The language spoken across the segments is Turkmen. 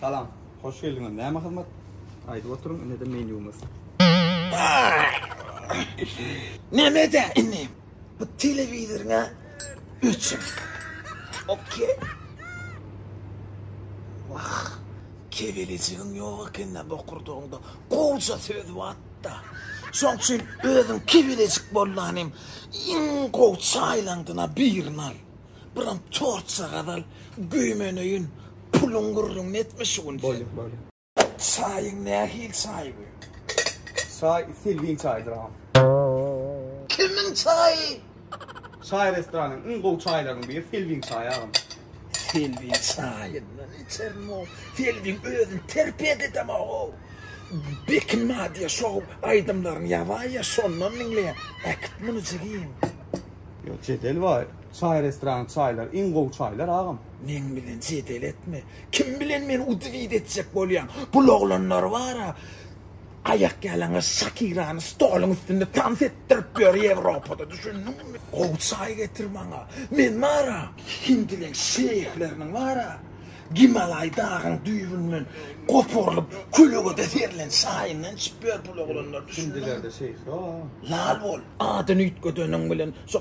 Salam, hoş geldiňiz. Näme hyzmat? Aýdyp oturyň, indi-de menýumyz. Näme-de indi? Bu telewizoryňa öçün. Okey. Wah, kebelejigiň ýok ekende bokurdagyňda gowja söz watda. Şoň üçin özüň kebelejik bolanyň iň gowy çaýlaňdyna birini al. Buram torça gazal güýmeneýin puluň gürrüňini etme şu gün sen. Bolýa bolýa. Çaýyň nähili çaý bu? Çaý selbiň çaýdyr agam. Kimiň çaýy? Çaý restoranyň iň gowy çaýlarynyň biri selbiň çaýy agam. Selbiň çaýyndan içerin o. Selbiň özüni terpet edemok o. Bekim madyýa şou aýdymlaryny ýazaýa şondan diňleýä. Äkit muny jigim. Ýok jedel bar. Çaý restorany çaýlar iň gowy çaýlar agam. Meň bilen jedel etme. Kim bilen meni udivit etjek bolýaň? Bul oglanlar bara aýak ýalaňaç Şakirany stoluň üstünde tans etdirip ýör Ýewropada düşündiňmi? Gowy çaý getir maňa. Men bara hindileň şeýhleriniň bara Gimalaý dagyň düýbünden goparylyp kölegede serilen çaýyndan içip ýör bul oglanlar düşündiňmi? Hindilerde şeýh ýok agam. Lal bol. Adyny üýtgedeniň bilen şo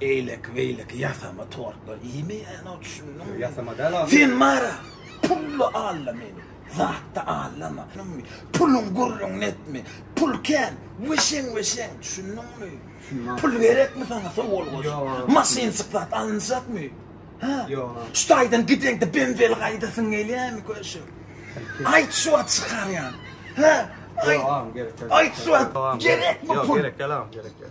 Eýleki beýleki ýasama tortlar iýme ýaly düşündiňmi? Ýasama däl agam. Sen mara pully alla meni zatda allama düşündiňmi? Puluň gürrüňini etme pul kän weşeň weşeň düşündiňmi? Pul gerekmi saňa sowalgoş maşynjyk zat alynjakmy? Hä? Şu taýdan gideňde benzeli gaýdasyň gelýärmi köşek? Aýt şu wagt çykarýan. Hä? Aýt şu wagt gerekmi pul? Gerek däl agam gerek däl.